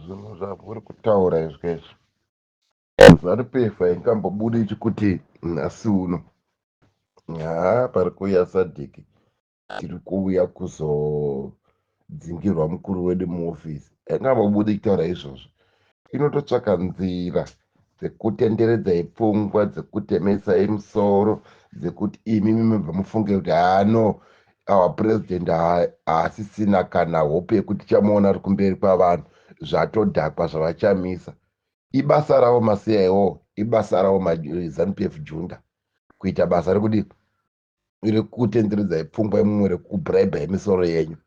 zvinhu zvavuri kutaura izvo izvo zaripefa ingambobudi chikuti nhasi uno haa pari kuuya sadiki tiri kuuya kuzodzingirwa mukuru wedu muofisi anga mabudi kutaura izvozvo inototsvaka nzira dzekutenderedzai pfungwa dzekutemesai musoro dzekuti imi mimibva mufunge kuti hano awa president haasisina kana hope yekuti tichamuona ari kumberi kwavanhu zvatodhakwa zvavachamisa ibasa ravo macia iwo ibasa ravo mazanup f junda kuita basa rekudii irikutenderedzai pfungwa imumwe rekubraiba yemisoro yenyu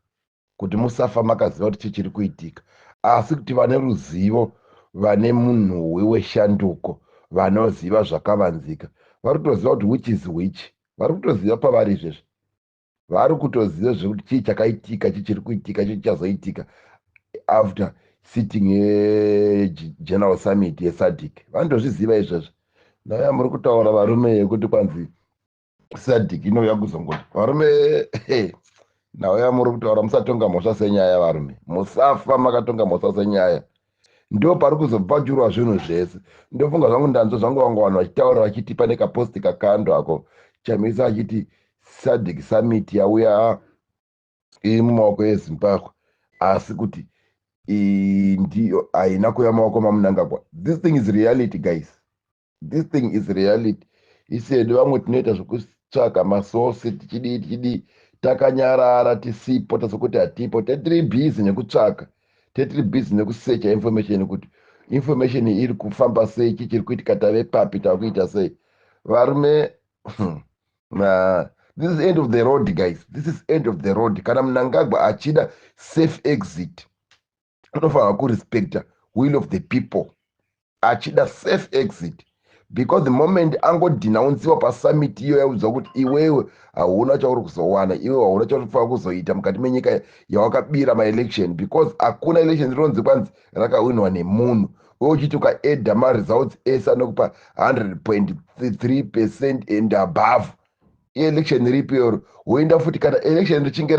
kuti musafa makaziva kuti chii chiri kuitika asi kuti vane ruzivo vane munhuwi weshanduko vanoziva zvakavanzika vari kutoziva kuti which is which vari kutoziva pavari izvezvi vari kutoziva zvekuti chii chakaitika chii chiri kuitika chii chichazoitika after sitting yegeneral summit yesadic vanotozviziva izvezvi naya muri kutaura varume yekuti kwanzi sadiki inouya kuzongoti varume nhau yamuri kutaura musatonga mhosva senyaya varume musafa makatonga mhosva senyaya ndo pari kuzobvajurwa zvinhu zvese ndofunga zvangu ndanzwa zvangu vanga vanhu vachitaura vachiti pane kaposti kakando ako chamisa achiti sadic summit yauya iri mumaoko ezimbabwe asi kuti ndiyo haina kuya maoko mamunangagwa this thing is reality guys this thing is reality isi hedu vamwe tinoita zvekutsvaga masource tichidii tichidii takanyarara tisipo tasokuti hatipo tetiri busy nekutsvaga tetiri busy nekusecha information kuti information iri kufamba sei chi chiri kuitika tave papi tava kuita sei varume hmm, this is end of the road guys this is end of the road kana munangagwa achida safe exit anofanirwa kurespecta will of the people achida safe exit because the moment angodhinaunziwa pasummit iyo yaudzwa kuti iwewe hauna chauri kuzowana iwe hauna chauri kufanira kuzoita mukati menyika yawakabira maelection because hakuna election rinonzi kwanzi rakawinwa nemunhu we uchiti ukaedha maresults ese anokupa 100.3 percent and above election ripi or woenda futi kana election richinge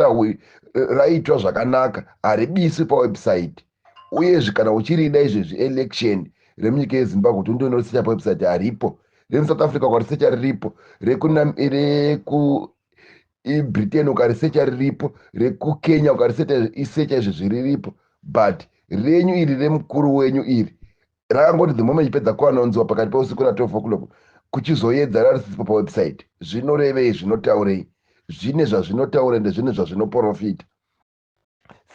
raitwa zvakanaka haribiswi pawebsite uyezve kana uchirida izvezvi election remunyika yezimbabwe kuti undonosecha pawebsite haripo remusouth africa ukarisecha riripo rekubritain ukarisecha riripo rekukenya ukarisecha izvezvi riripo but renyu iri remukuru wenyu iri Rakangoti the moment pedza kuanonziwa pakati peusiku na 12 o'clock kuchizoyedza rarisiswa pa website. Zvinorevei? Zvinotaurei? Zvine zvazvinotaura ende zvine zvazvinoporofita.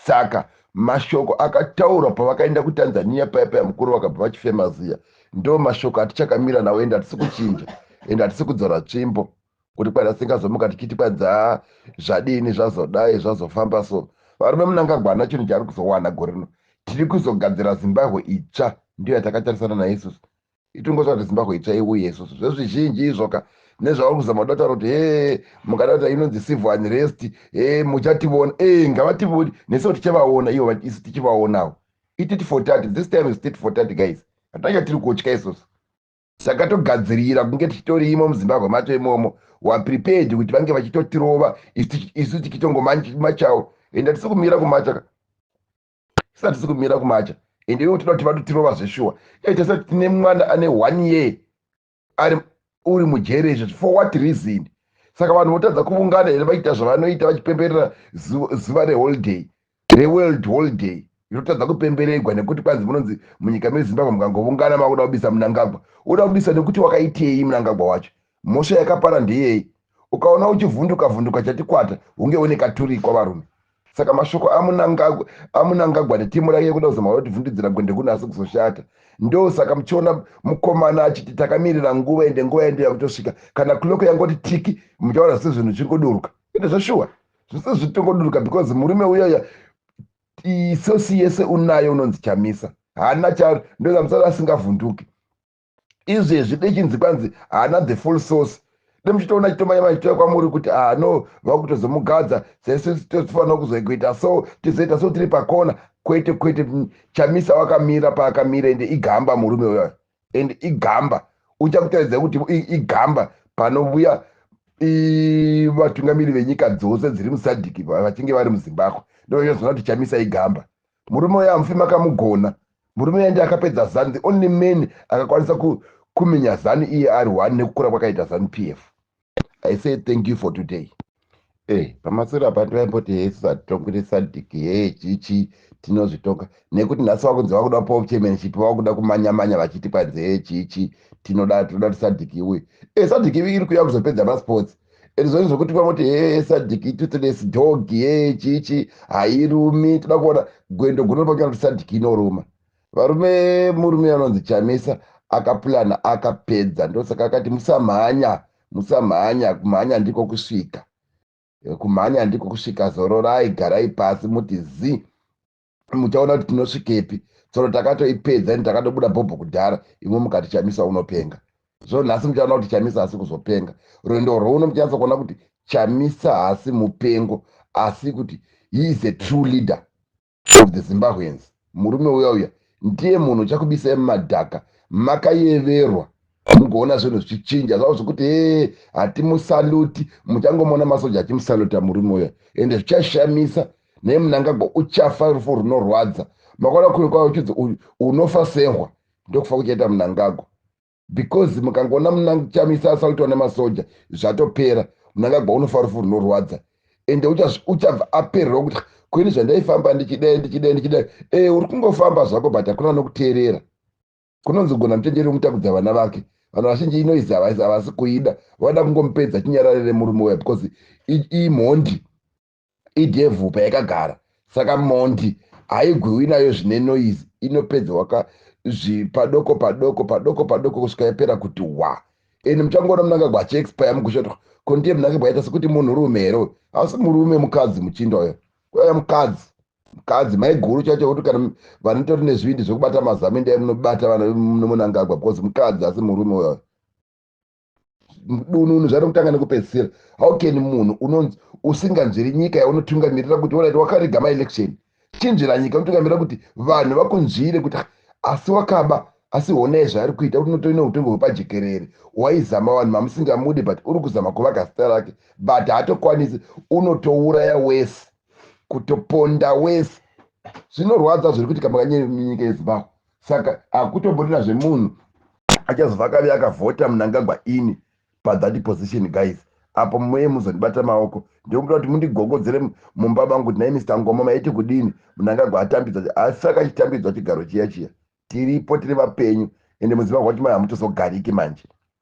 Saka mashoko akataurwa pavakaenda kuTanzania paya paya mukuru vakabva vachifema ziya. Ndo mashoko atichakamira nawo ende hatisi kuchinja ende hatisi kudzora tsvimbo. kuti kwana singazomuka tichiti kwadzaa zvadini zvazodai zvazofamba so varume munangagwa ana chinhu chaari kuzowana gore rino tiri kuzogadzira zimbabwe itsva ndiyo yatakatarisana nayo isusu itongotsva kuti zimbabwe itsva iuye isusu zvezvizhinji izvoka nezvauri kuzama kuda kutaura kuti hee mukada kuti inonzi civil unrest hee muchationa ee ngavationi nesu tichavaona ivo isu tichivaonawo itit for tat this time is tit for tat guys hatanga tiri kutya isusu Saka togadzirira kunge tichitorimo muZimbabwe macho imomo wa prepared kuti vange vachitotirova isu tikitongomachawo ende hatisi kumira kumacha ka isu hatisi kumira kumacha ende ivo toda kuti vatotirova zveshuwa e tasati tine mwana ane one year ari uri mujere izvo for what reason saka vanhu votadza kuvungana here vachiita zvavanoita vachipemberera zuva reholiday Tine world holiday inotadza kupemberegwa nekuti kwanzi munonzi munyika mezimbabwe mukangovungana makuda kubisa munangagwa uda kubisa nekuti wakaitei munangagwa wacho mhosva yakapara ndeyei ukaona uchivhunduka vhunduka chatikwata hunge une katurikwa varume saka mashoko amunangagwa amunangagwa netimu rake kuda kuzama kuda kutivhundudzira gwende kuno asi kuzoshata ndo saka muchiona mukomana achiti takamirira nguva ende nguva yendo yakutosvika kana cloko yangoti tiki muchaona sezvinhu zviri kuduruka ende zveshuwa zvese zvitongoduruka because murume uyaya isosi yese unayo unonzi chamisa haana charo ndozamusara asingavhunduki izvezvi dechinzi kwanzi haana the full source demuchitoona chitomanya machitoya kwamuri kuti ah no vakutozomugadza saisu tofanira kuzokuita so tizoita so tiri pakona kwete kwete chamisa wakamira paakamira ende igamba murume uyoyo and igamba uchakutaridza kuti igamba panovuya vatungamiri venyika dzose dziri musadhiki vachinge vari muzimbabwe ndovachazoona kuti chamisa igamba murume uyo amufi makamugona murume uyo ndi akapedza zanu the only man akakwanisa kumenya zanu iye ari one nekukura kwakaita zanu p f i say thank you for today e eh, pamaswero apa ndivaimboti hesu satongere sadik hee chichi tinozvitonga nekuti nhasi vakunzi vakuda pov chairmanship vakuda kumanyamanya vachiti panzi hee chichi tinoda tinoda kuti sadik iuye e eh, sadik iri kuya kuzopedza masports and zvoni zvokuti vamoti hee sadik itutless dog hee chichi hairumi toda kuona gwendo gunonopakuona kuti sadik inoruma varume murume anonzi chamisa akapulana akapedza ndosaka akati musamhanya musamhanya kumhanya ndiko kusvika eh, kumhanya ndiko kusvika zororai garai pasi muti zi muchaona kuti tinosvikepi tsoro takatoipedza ini takadobuda bhobho kudhara imwe mukati chamisa unopenga zvo nhasi muchaona kuti chamisa haasi kuzopenga rwendo rwouno muchanasa kuona kuti chamisa haasi mupengo asi kuti he is a true leader of the Zimbabweans murume uya uya ndiye munhu uchakubisai mumadhaka makayeverwa mugoona zvinhu zvichichinja zvavo zvekuti hee hatimusaluti muchangomuona masoja achimusaluta murume uya ende zvichashamisa naye munangagwa uchafa rufu runorwadza makaona kuri kwavo uchidzi unofa sehwa ndokufa kuchaita munangagwa because mukangoona munangu chamisa asautwa nemasoja zvatopera munangagwa unofa rufu runorwadza ende uchabva apererwa kuti kweni zvandaifamba ndichidai ndichidai ndichidai e uri kungofamba zvako but hakuna nokuteerera kunonzi gona muchenjeri wemutakudza vana vake vanhu vazhinji inoizi havasi kuida vada kungomupedza chinyararire murume uya because imhondi idevil payakagara saka mhondi haigwiwi nayo zvine noise inopedza waka zvipadoko padoko padoko padoko kusvika yapera kuti wa and muchangoona munangagwa achiexpire mukushotwa ko ndiye munangagwa yaita sekuti munhu rume here uyu hausi murume mukadzi muchinda uyo kuya mukadzi mukadzi maiguru chacho kuti kana vanotori nezvivindi zvekubata mazamindai munobata vana munangagwa because mukadzi asi murume uyo dununu zvanokutanga nekupedzisira how can munhu unonzi usinganzviri nyika yaunotungamirira kuti orit wakarega maelection chinzvira nyika unotungamirira kuti vanhu vakunzvire kuti asi wakaba asi honai zvaari kuita kuti unotoine utongo hwepajekerere waizama vanhu mamusingamude but uri kuzama kuvaka zita rake but haatokwanisi unotouraya wese kutoponda wese zvinorwadza zviri kuitika makanyika yezimbabwe saka hakutomborina zvemunhu achazova akavi akavhota munangagwa ini pathat position guys apo muye muzondibata maoko ndikumbira kuti mundigogodzere mumba mangu kuti nai mr ngoma maiti kudini munangagwa atambidza asi akachitambidzwa chigaro chiya chiya tiripo tiri vapenyu ende muzimbabwe wacho mai hamutozogariki manje